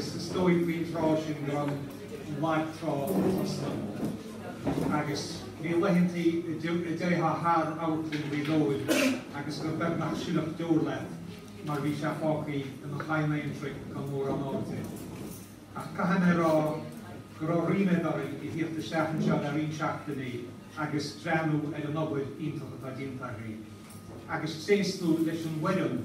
Is dóigh faoin tráth sin go raibh an lag trá sroichte agus bhí laethantaí a dtéitheá thar Amharclann Ghaoth Dobhair agus gur beagnach sileadh deor leat mar bhí sé fágthaí ina chadhan aonraic gan mórán airde. Ach caithfidh mé a rá go raibh ríméad orainn a theacht isteach anseo le roinnt seachtainí agus breathnú ar an obair iontach atá déanta agaibh, agus tréaslú leis an bhfoireann.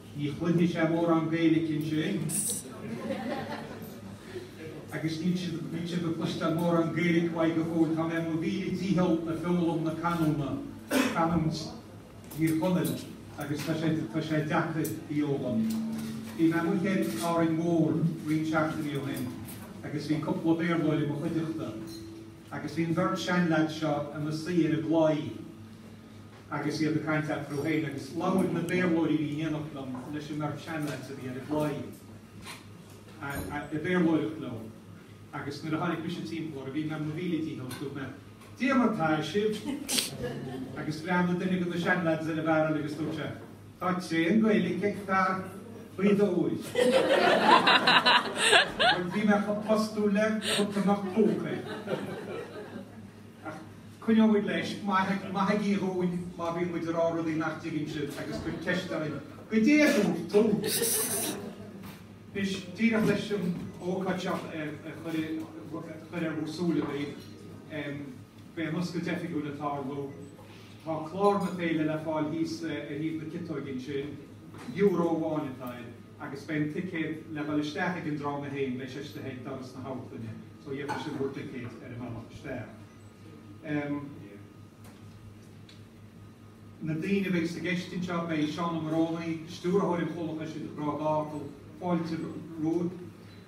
Ní chluinfidh sé mórán Gaeilge ansin. Agus níl sé níl sé ag cloisteáil mórán Gaeilge uaidh go fóill, tá mé ar mo mhíle dícheall le foghlaim na canúint Thír Chonaill, agus tá sé deacair í a fhoghlaim. Bhí mé amuigh ar Árainn Mhór roinnt seachtainí ó shin agus bhí cúpla Béarlóir i mo chuideachta, agus bhí an bheirt seanleaid seo ina suí ar an gclaí, agus iad ag caint leat fadó féin agus labhair na Béarlóirí í ndéanfadh liom leis an mbeirt seanleaid a bhí ar an gclaí i Béarlóireacht leo agus nuair a tháinig mise timpeall orthu bhí mé i mo mhíle dícheall agus dúirt mé Goidé mar tá sibh! Agus phreab duine de na seanleaid is ar an bhfearann agus dúirt sé Tá tréan Gaeilge ag fear faoi d'uair! Bhuel bhí mé chomh postúil le cat a mbeadh póca air. Ach coinneoidh muid leis. Maithigí dhúinn má bhíonn muid ag rá rudaí nach dtuigeann sibh agus cuir ceist orainn. Goidé a dúirt tú? Anois, díreach leis an ócáid seo a chur ar a súile daoibh, beidh an oscailt oifigiúil ag tarlú. Tá clár na féile le fáil thíos ar thaobh na ciotóige ansin. Euro amháin atá air agus beidh an ticéad le dhul isteach ag an dráma féin, beidh sé istigh ag doras na hamharclainne. so gheobhaidh sibh bhur dticéid ar an mbealach isteach. Em, Na daoine a bheidh i gceist anseo, beidh Seán Ó Morónaigh, Stiúrthóir an Chomhlachais ag cur focal fáilte romhaibh,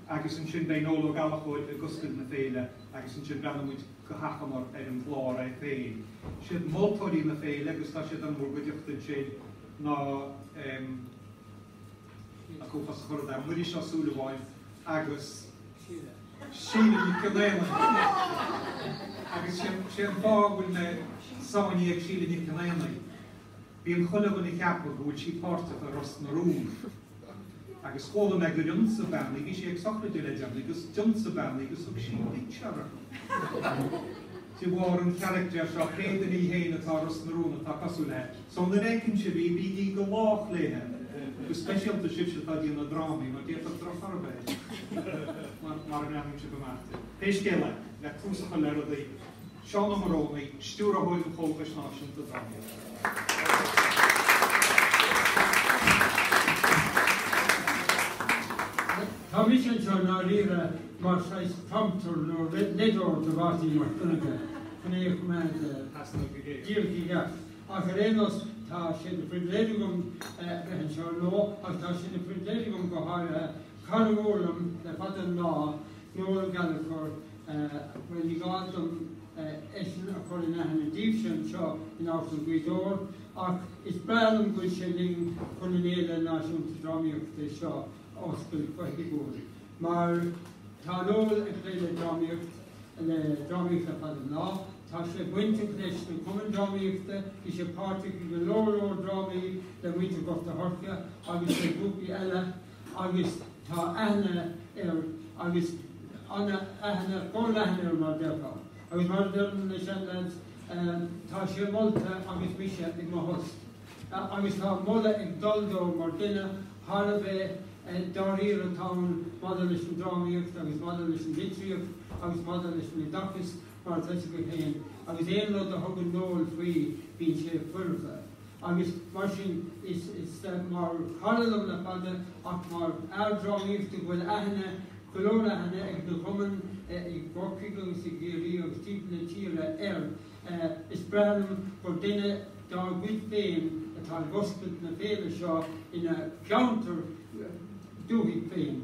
agus ansin beidh Noel Ó Gallachóir ag oscailt na Féile agus ansin breathnóidh muid go hachomair ar an gclár é féin. Siad moltóirí na féile agus tá siad an-mhór go deo ansin ná em, a chomh foscadh a chuirfeadh an Muiris Ó Súilleabháin agus. Sheila Nic Giolla Éanaigh agus sé an fáth a bhfuil mé ag sainniú Sheila Nic Giolla Éanaigh, bíonn chuile dhuine ag ceapadh go bhfuil sí páirteach i Ros na Rún agus chuala mé gur ionsaigh bean í, bhí sí ag sochraid le deireanaí agus d'ionsaigh bean í agus thug sí pictiúr orthu. De bharr an charactair seo creidim í fhéin atá i Ros na Rún atá cosúil léi so nuair fheiceann sibh í bígí go lách léithe, go speisialta sibhse atá ag déanamh drámaí mar d'fhéadfadh drochthoradh a bheith air mara ndéanann sibh a mhalairt. Pé scéal é, le tús a chur le rudaí, Seán Ó Morónaigh, Stiúrthóir an Chomhlachais Náisiúnta Drámaíochta. Tá mise anseo ndáiríre mar saghas prompter nó leideoir do Mháirtín Mac Donncha chun é a choimeád díreach i gceart. Ach ar aon nós tá sé na pribhléid agam bheith anseo anocht ach tá sé ina phribhléid agam go háirithe cara mór liom le fada an lá Noel Gallagher Bhuel, ní gá dom eisean a chur in aithne daoibhse anseo in Amharclann Ghaoth Dobhair, ach is breá liom go bhfuil sé linn chun an Fhéile Náisiúnta Drámaíochta seo a oscailt go hoifigiúil, mar tá Noel ag plé le drámaíocht, le drámaíocht le fada an lá. Tá sé bainteach leis na Cumainn Drámaíochta, bhí sé páirteach i go leor leor drámaí le muintir Ghort a' Choirce agus le grúpaí eile, agus tá aithne air agus an-aithne forleathan air mar déarfá agus mar a deireann na seanleaids tá sé molta agus mise i mo thost agus tá moladh ag dul dó mar dhuine thar a bheith dáiríre atá ann maidir leis an drámaíocht agus maidir leis an litríocht agus maidir leis an oideachas mar atá a fhios agaibh féin agus aon rud a thugann Noel faoi bíonn sé foirfe. agus mar sin is mar chara liom le fada ach mar fhear drámaíochta go bhfuil aithne, go leor aithne ag na cumainn i gCorcaigh agus i gCiarraí agus timpeall na tíre air. Is breá liom gur duine dár gcuid féin atá ag oscailt na féile seo ina cheantar dúthaigh féin.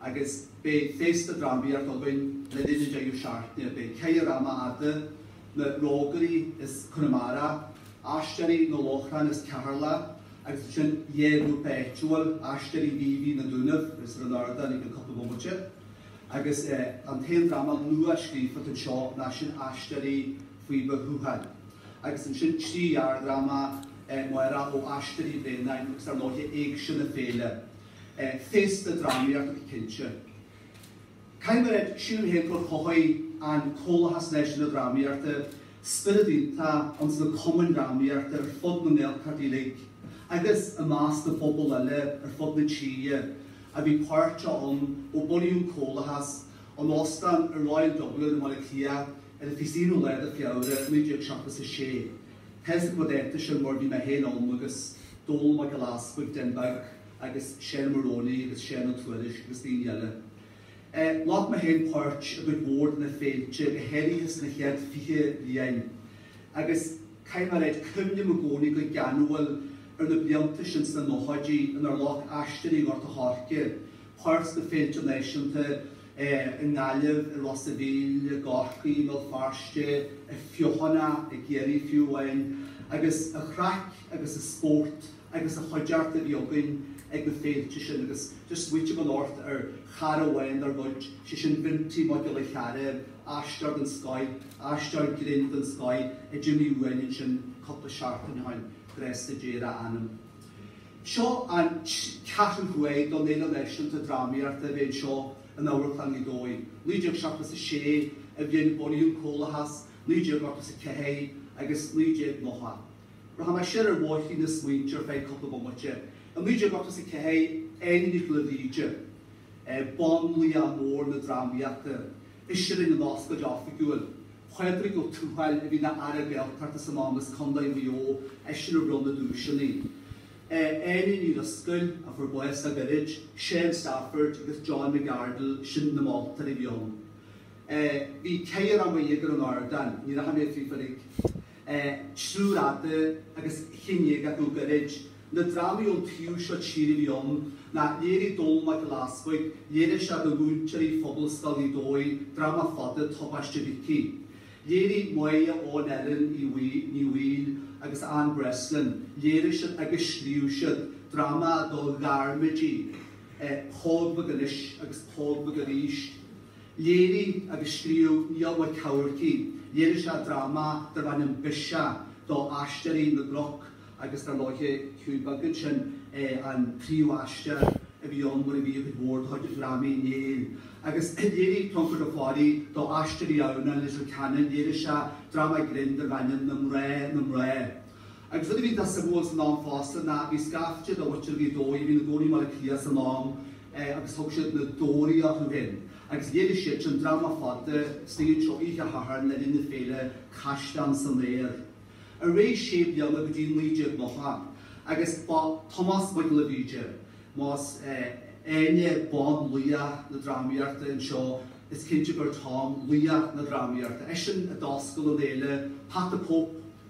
agus beidh féasta drámaíochta againn le linn an deireadh seachtaine. Beidh ceithre dhráma fhada, na Rógairí as Conamara, Aisteoirí an Lóchrainn as Ceatharlach agus ansin dhá ghrúpa áitiúil, Aisteoirí Mhíobhaigh, na Dúnaibh agus ar an ardán i gceann cúpla bomaite. Agus an t-aon dráma nuascríofa don seó ná sin Aisteoirí Ghaoth Dobhair Thuathail. Agus ansin trí ghearrdhráma mhóra ó Aisteoirí Bhréanainn agus ar ndóiche Éigse na Féile. Féasta drámaíochta go cinnte. Caithfidh mé, sílim féin gur chothaigh an Comhlachas Náisiúnta Drámaíochta spiorad iontach ins na cumainn drámaíochta ar fud na nGaeltacht uilig agus i measc na bpobal eile ar fud na tíre a bhí páirteach ann ó bunaíodh an Comhlachas in Óstán an Royal Dublin i mBaile Átha Cliath ar an 21ú lá de Fheabhra 1976. Tá a fhios agam an dáta sin mar bhí mé féin ann agus Dónal Mac Giolla Easpaig, Dan Burke agus Seán Ó Morónaigh agus Seán Ó Tuairisg agus daoine eile. Ghlac mé féin páirt i gcuid mhór de na féilte, go háirithe sna chéad fiche bliain agus caithfidh mé a ráit, cuimhním i gcónaí go geanúil ar na blianta sin sna nóchaidí inár ghlac Aisteoirí Ghort a' Choirce páirt sna féilte náisiúnta, i nGaillimh, i Ros a Mhíl, i gCorcaigh, i mBéal Feirste, i bhFeothanach, i gCiarraí fiú amháin, agus an chraic agus an spórt agus an chuideachta a bhí againn ag na féilte sin agus just ag smaoiteamh anocht ar chara amháin dár gcuid, sé sin Bhinti Mac Giolla Chearra, aisteoir den scoth, aisteoir grinn den scoth a d'imigh uainn ansin cúpla seachtain ó shin, grásta Dé ar a anam. Seo an ceathrú huair don Fhéile Náisiúnta Drámaíochta a bheith anseo in Amharclann Ghaoth Dobhair, 1976 an bhliain a bunaíodh an Comhlachas, 1984 agus 1990. Rachaimid siar ar bhóithrín na smaointe ar feadh cúpla bomaite. I 1984 Áine Nic Giolla Bhríde, banlaoch mór na drámaíochta, ise a rinn an oscailt oifigiúil. Pádraig Ó Tuathail a bhí ina Aire Gaeltachta san am as Contae Mhaigh Eo eisean a bhronn na duaiseanna. Áine Ní Dhrisceoil a fuair bás le gairid, Seán Stafford agus John McArdle sin na moltóirí a bhí ann. Bhí ceithre dhráma dhéag ar an ardán, ní rachaidh mé fríofa uilig. Triúr fada agus aon cheann déag acu gairid. Na drámaí ón taobh seo tíre a bhí ann, ná léirigh Dónal Mac Giolla Easpaig, léirigh sé do mhúinteoirí Phobalscoil Ghaoth Dobhair dráma fada, Tubaiste Mhicí. Léirigh Máire Eoin Ellen Ní Bhaoill agus Ann Breslin, léirigh siad agus scríobh siad dráma do ghairmidí, Póg Mhac Anois agus Póg Mhac Arís. Léirigh agus scríobh Niall Mac Eachmharcaigh, léirigh sé dráma darb ainm Bise do Aisteoirí na gCnoc agus dar ndóiche Hiúdaí Beag, sin é an príomhaisteoir a bhí ann mar a bhí i gcuid mhór do dhrámaí Néill agus léirigh Conchúr Ó Fearraigh do Aisteoirí Adhamhnáin Leitir Ceanainn, léirigh sé dráma grinn darb ainm Na Mná, Na Mná. Agus rud a bhí deas suimiúil san am fosta ná bhí scaifte de mhuintir Ghaoth Dobhair a bhí ina gcónaí i mBaile Átha Cliath san am agus thug siad Na Deoraithe orthu fhéin agus léirigh siad sin dráma fada san amharclann seo oíche Shathairn le linn na féile Caisleáin san Aer ar aghaidh sé bliana go dtí 1990 agus ba Tomás Mac Giolla Bhríde más í Áine banlaoch na drámaíochta anseo is cinnte gurb é Tom laoch na drámaíochta eisean a d'oscail an fhéile Pat the Cope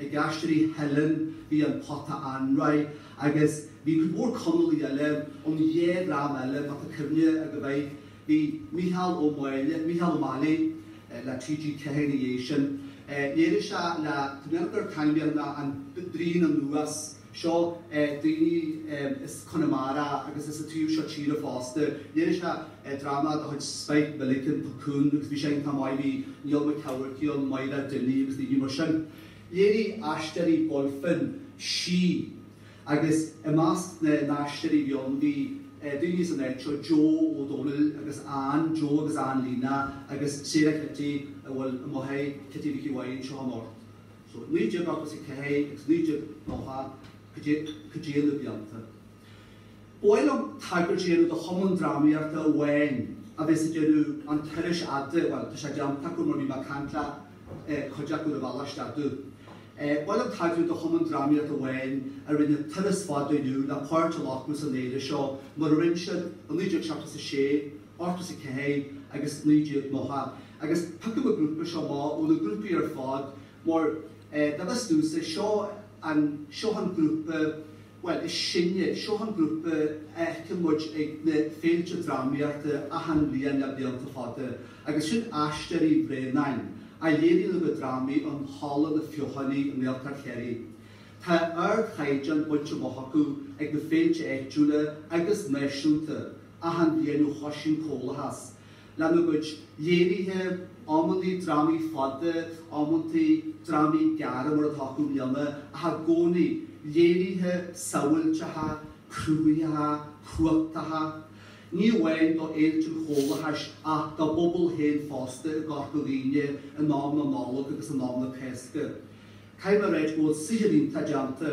Ag Aisteoirí Theilinn bhí An Pota Anraith agus bhí cuid mhór Conallaigh eile ón dhá dhream eile, má tá cuimhne agaibh air. Bhí Mícheál Ó Meallaigh le TG4 ina dhiaidh sin. Léirigh sé le taispeánadh ar Taibhdhearc ná an dream anuas. seo daoine as Conamara agus as an taobh seo tíre fosta. Léirigh sé dráma de chuid Spike Milligan, Puckoon, agus bhí sé iontach maith. Bhí Niall Mac Eachmharcaigh ann, Máire Dinny agus daoine mar sin. Léirigh Aisteoirí Bulfin Sí agus i measc na n-aisteoirí a bhí ann bhí daoine as an áit seo, Joe Ó Dónaill agus Anne, Joe agus Anne Lena agus Sarah Kitty a bhfuil amuigh, Kitty Mhicí Mháire, anseo anocht. so 1984 agus 1990 cá dtéann na blianta. Ba mhaith liom tagairt a dhéanamh do chumann drámaíochta amháin a bheas ag déanamh an turais fhada, bhuel tá sé déanta acu mar bhí mé ag caint le cuid acu ar ball istigh. Ba mhaith liom tagairt do chumann drámaíochta amháin a rinne turas fada inniu le páirt a ghlacadh san fhéile seo mar a rinne siad i 1976, 84 agus 1990. Agus piocaim an grúpa seo amach ó na grúpaí ar fad mar dá bhfios domhsa seo an, seo an grúpa, bhuel, is sine, seo an grúpa a tchí muid ag na féilte drámaíochta achan bhliain le blianta fada agus sin Aisteoirí Bhréanainn a léiríonn a gcuid drámaí in Halla na Feothánaí i nGaeltacht Chiarraí. Tá ardchaighdeán bainte amach acu ag na féilte áitiúla agus náisiúnta achan bhliain ó thoisigh an Comhlachas, lena gcuid léirithe, amantaí drámaí fada, amantaí drámaí gearra mar atá acu i mbliana, ach i gcónaí léirithe samhailteacha, cruthaitheacha, cumhachtacha, ní amháin do fhéilte an Chomhlachais ach dá bpobal féin fosta i gCorca Dhuibhne in am na Nollag agus in am na Cásca. Caithfidh mé a ráit go bhfuil saothar iontach déanta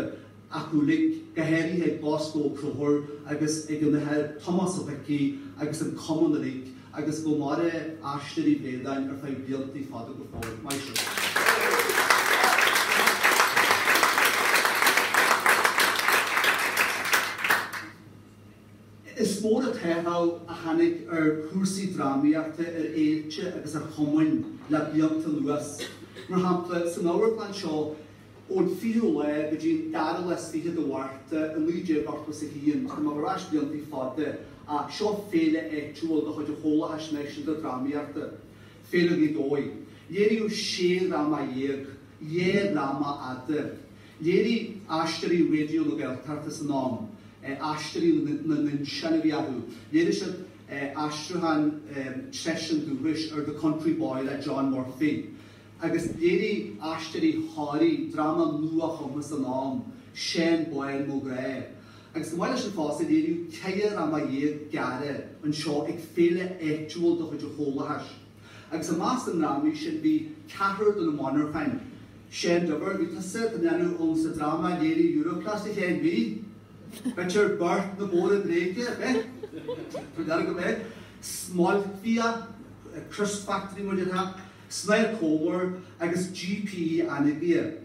acu uilig, go háirithe ag Bosco Ó Conchúir agus ag an Athair Tomás Ó hIcí agus an cumann uilig agus go maire Aisteoirí Bhréanainn ar feadh blianta fada go fóill. Maith sibh. Is mór an t-athrú a tháinig ar chúrsaí drámaíochta, ar fhéilte agus ar chumainn le blianta anuas. Mar shampla, san amharclann seo, ón 20ú lá go dtí an dara lá is fiche de Mhárta i 1981, tá mé ag gabháil ar ais blianta fada, ach seo féile áitiúil de chuid an Chomhlachais Náisiúnta Drámaíochta, Féile Ghaoth Dobhair. Léiríodh sé dhráma dhéag, dhá dhráma fhada, Léirigh aisteoirí raidió na Gaeltachta san am aisteoirí na n-insint a bhí acu. Léirigh siad aistriúchán treise an dúchais ar The Country Boy le John Murphy. Agus léirigh aisteoirí Thoraí dráma nua-chumtha san am, Seanbhaile Mo Ghrá. Agus chomh maith leis sin fosta, léiríodh ceithre dhráma dhéag gearra anseo ag féile áitiúil de chuid an Chomhlachais. Agus i measc na ndrámaí sin bhí ceathrar de na monarchain, Séan Duibhir a bhí tusa a dhéanamh ann sa dráma a léiríodh Europlast sa chéad mhí? Bitear beart na Móra Bréige, ar bith? Tá dear agam air. Smailcbhia, Crisp Factory nó rud ar bith. Snáth Comer agus GPE Anagaire.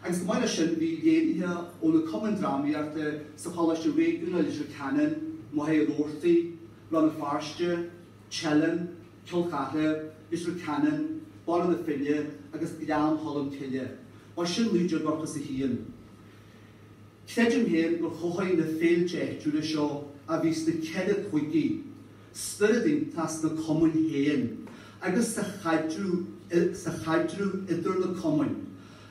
Agus chomh maith leis sin bhí léirithe ó na cumainn drámaíochta sa choláiste réigiúnach Leitir Ceanainn, Machaire Rabhartaigh, Rann na Feirste, Teileann, Cill Chartha, Leitir Ceanainn, Baile na Finne agus Gleann Cholm Cille, b'shin 1981. Creidim féin gur chothaigh na féilte áitiúla seo a bhí sna ceithre cúigí spiorad iontach sna cumainn féin agus sa chaidreamh idir na cumainn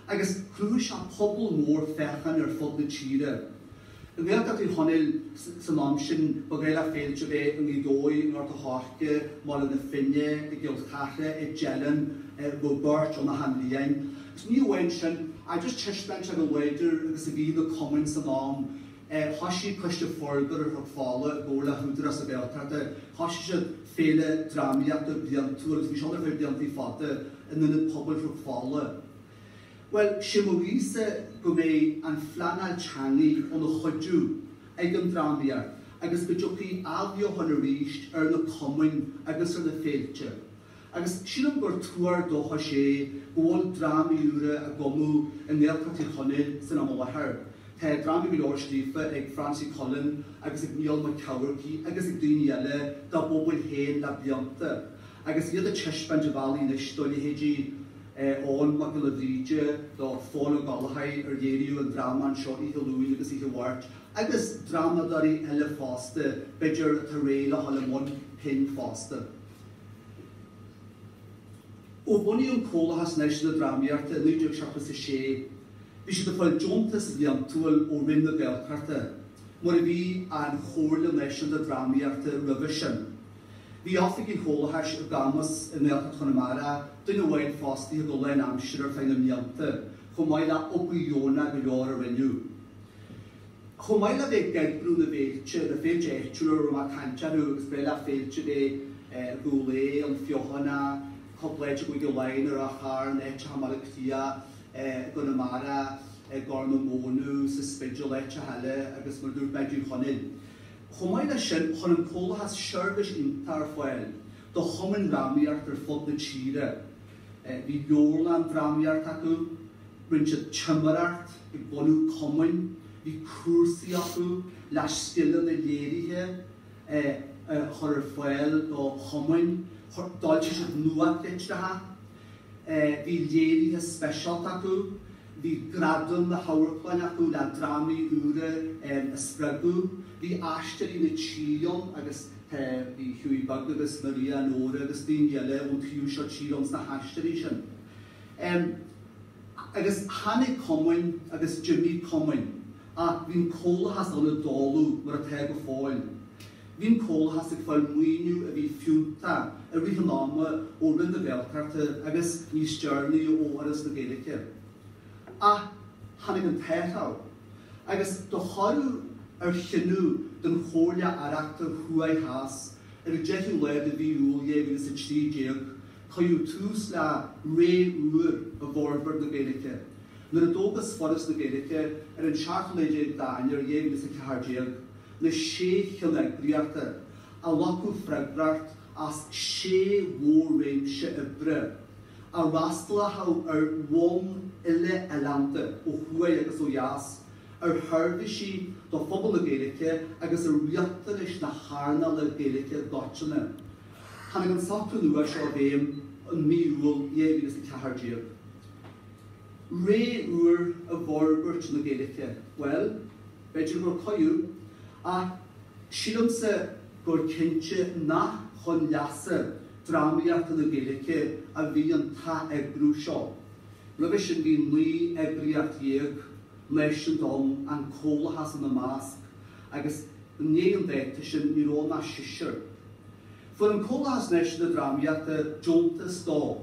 agus chruthaigh sé pobal mór féachana ar fud na tíre. I nGaeltacht Thír Chonaill san am sin ba ghnách le féilte a bheith i nGaoth Dobhair, i nGort a' Choirce, i mBaile na Finne, i gCill Chartha, i dTeileann, i bhfuil beirt ó achan bhliain. Agus ní amháin sin, ach just taispeáint ar a láidre agus a bhí na cumainn san am, thoisigh Coiste Forbartha Chnoc Fola i gcomhar le hÚdarás na Gaeltachta, thoisigh siad féile drámaíochta bliantúil, agus bhí seo ar feadh blianta fada, in Ionad Pobail Chnoc Fola. Bhuel, sé mo ghuíse go mbeidh an phleanáil teangaidh ina chuidiú ag an drámaíocht agus go dtiocfaidh athbheochan arís ar na cumainn agus ar na féilte. Agus sílim gur tuar dóchais é go bhfuil drámaí úra á gcumadh i nGaeltacht Thír Chonaill san am i láthair. Tá drámaí go leor scríofa ag Francie Cullen agus ag Niall Mac Eachmharcaigh agus ag daoine eile dá bpobail féin le blianta agus iad ag taispeáint an bhealaigh anois do leithéidí Eoghan Mac Giolla Bhríde do Phól Ó Gallchóir ar léiríodh an dráma anseo oíche Luain agus oíche Mháirt, agus drámadóirí eile fosta, b'fhéidir, atá réidh le dhul i mbun pinn fosta. Ó bunaíodh an Comhlachas Náisiúnta Drámaíochta i 1976 bhí siad ag fáil deontas bhliantúil ó Roinn na Gaeltachta, mar a bhí an Chomhairle Náisiúnta Drámaíochta roimhe sin. Bhí oifigí an Chomhlachais i gCamus i nGaeltacht Chonamara, duine amháin fostaithe go lán aimsire ar feadh na mblianta, chomh maith le obair dheonach go leor a rinneadh. Chomh maith le bheith ag eagrú na bhféilte, na féilte áitiúla a raibh mé ag caint orthu agus ba ghnách le féilte a bheith i gCúil Aodha, An Fheothanach, cúpla áit i gCúige Laighin i Ráth Chairn, áiteacha i mBaile Átha Cliath, i gConamara, i gCorr na Móna, sa Spidéal, áiteacha eile agus mar a dúirt mé i dTír Chonaill. Chomh maith le sin chuir an Comhlathas seirbhís iontach ar fáil do chumainn drámaíochta ar fud na tíre. Bhí leabharlann drámaíochta acu, rinne siad timireacht ag bunú cumainn, bhí cúrsaí acu le scileanna léirithe a chur ar fáil do chumainn, d'fhoilsigh siad nuachtlitreacha, bhí léirithe speisialta acu. Bhí Gradam na hAmharclainne acu le drámaí úra a spreagadh. Bhí Aisteoirí na Tíre ann agus tá bhí Hughie Beag agus Maria Nóra agus daoine eile ón taobh seo tíre ann sna haisteoirí sin. Agus tháinig cumainn agus d'imigh cumainn ach bhí an Comhlathas ann i dtólamh mar atá go fóill. Bhí an Comhlathas ag fáil maoiniú a bhí fiúntach i rith an ama ó Roinn na Gaeltachta agus níos deireanaí ó Fhoras na Gaeilge. Ach tháinig an t-athrú agus de thoradh ar chinneadh den Chomhairle Aireachta Thuaidh Theas ar an 10ú lá de mhí Iúil 2013 cuireadh tús le ré úr i bhforbairt na Gaeilge nuair a d'fhógair Foras na Gaeilge ar an 17ú lá d'Eanáir 2014. na sé cheanneagraíocht a ghlacfadh freagracht as sé mhór-réimse oibre a fhreastalóchadh ar bhonn uile-oileánda ó thuaidh agus ó dheas, ar sheirbhísí do phobal na Gaeilge agus ar riachtanais na hearnála Gaeilge i gcoitinne. Tháinig an socrú nua seo i bhfeidhm i mí Iúil 2014. Ré úr i bhforbairt na Gaeilge? Bhuel. B'fhéidir gur cuireadh, ach sílimse gur cinnte nach chun leasa drámaíochta na Gaeilge a bhí an t-atheagrú seo. Roimhe sin bhí naoi eagraíocht dhéag náisiúnta ann, an Comhlathas ina measc, agus i ndiaidh an dáta sin ní raibh ann ach seisear. Fuair an Comhlathas Náisiúnta Drámaíochta deontas do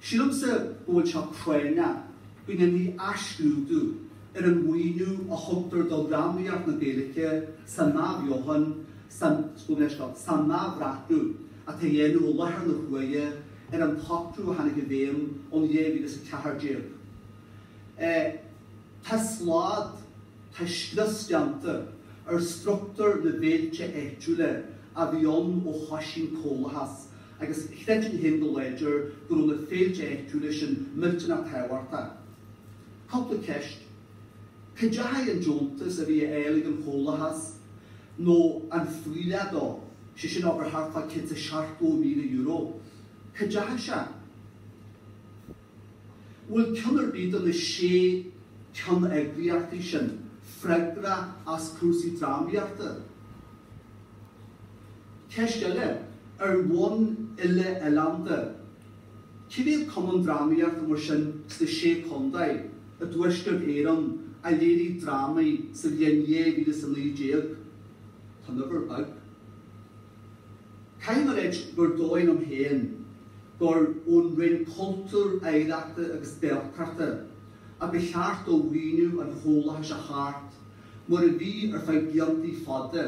Sílimse go bhfuil sé práinneach go ndéanfaí athscrúdú ar an mhaoiniú a thugtar do dhrámaíocht na Gaeilge san n-athbheochan, san san n-athbhreathnú atá á dhéanamh i láthair na huaire ar an tsocrú a tháinig i bhfeidhm ón 2014. Tá slad, tá scrios déanta ar structúr na bhféilte áitiúla a bhí ann ó thoisigh an Comhlathas agus creidim féin go láidir go raibh na féilte áitiúla sin millteanach tábhachtach. Cúpla ceist, cá ndeachaigh an deontas a bhí á fháil ag an Chomhlathas, nó an fuílleach dó, sé sin abair thart fá €170,000? Cá ndeachaigh sé? An bhfuil ceann ar bith de na sé ceanneagraíochtaí sin freagrach as cúrsaí drámaíochta? Ceist eile, ar bhonn uile-oileánda, cá mhéad cumann drámaíochta mar sin sna sé contae i dTuaisceart Éireann a léirigh drámaí sa bhliain 2019? Tá an uimhir beag. Caithfidh mé a ráit gur dóigh liom féin gur ón Roinn Cultúir, Oidhreachta agus Gaeltachta a ba cheart dó mhaoiniú an chomhlathais a thabhairt mura bhí ar feadh bliantaí fada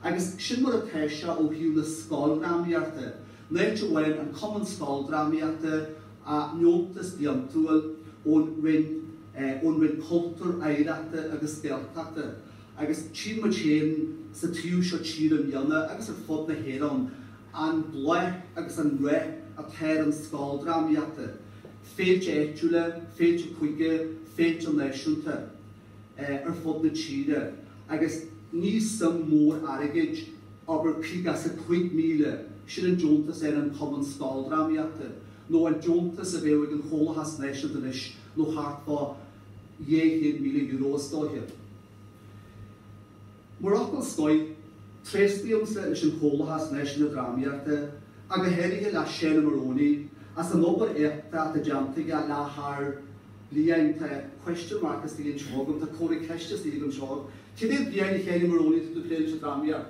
agus sin mar atá sé ó thaobh na scoildrámaíochta n-áit a bhfuil an Cumann Scoildrámaíochta a ndeontas bliantúil ón Roinn Cultúir, Oidhreachta agus Gaeltachta. agus tchí muid féin ar an taobh seo tíre i mbliana agus ar fud na hÉireann an bláth agus an rath atá ar an scoildrámaíocht, féilte áitiúla, féilte cúige, féilte náisiúnta ar fud na tíre agus ní suim mór airgid, abair fiche is a cúig míle, sin an deontas ag an Chumann scoildrámaíochta nó an deontas a bheadh ag an Chomhlachas Náisiúnta anois nó thart fá €200,000 is dóiche. Mar fhocal scoir, tréaslaímse leis an Chomhlachas Náisiúnta Drámaíochta ach go háirithe le Séan Ó Morónaigh as an obair éachtach atá déanta aige le tharr blianta. Tá question mark istigh anseo agam, tá comhartha ceiste istigh agam anseo, cá mhéad bliain a Shéin Ó Morónaigh atá tú ag plé leis an drámaíocht?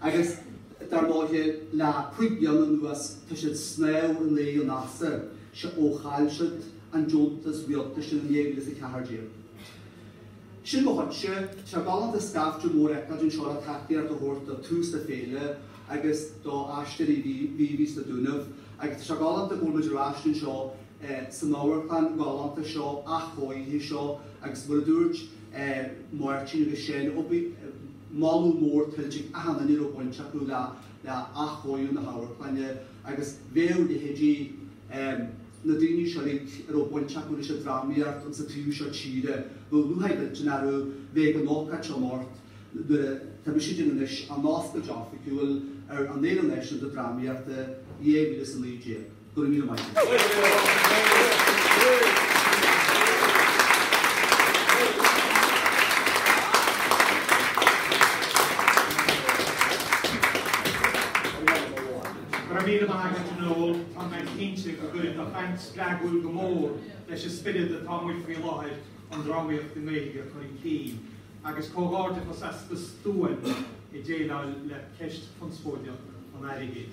Agus dar ndóigh le cúig bliana anuas tá siad ag snámh in aghaidh an easa seo ó chaill siad an deontas rialtais in 2014. Sin é agus tá sé galánta scaifte mór a fheiceáil anseo le tacaíocht a thabhairt do thús na féile agus do Aisteoirí Mhíobhaí sna Dúnaibh agus tá sé galánta go bhfuil muid ar ais anseo san amharclann ghalánta seo, athchóirithe seo agus mar a dúirt Máirtín agus Séan, Moladh mór tuillte ag achan duine a raibh baint acu le athchóiriú na hamharclainne agus bheadh leithéidí na daoine seo uilig a raibh baint acu leis an drámaíocht ins an taobh seo tíre nó lúcháir uilig orthu bheith ag an ócáid seo anocht. Tá mise ag déanamh anois an oscailt oifigiúil ar an Fhéile Náisiúnta Drámaíochta 2019. Go raibh míle maith agat. Go raibh míle maith agat a Noel, tá mé cinnte go gcuirfidh do chaint spreagúil go mór leis an spiorad atá amuigh faoi láthair an drámaíocht i nGaeilge a chur chun cinn, agus comhghairdeachas as do stuaim ag déileáil le ceist chonspóideach an airgid.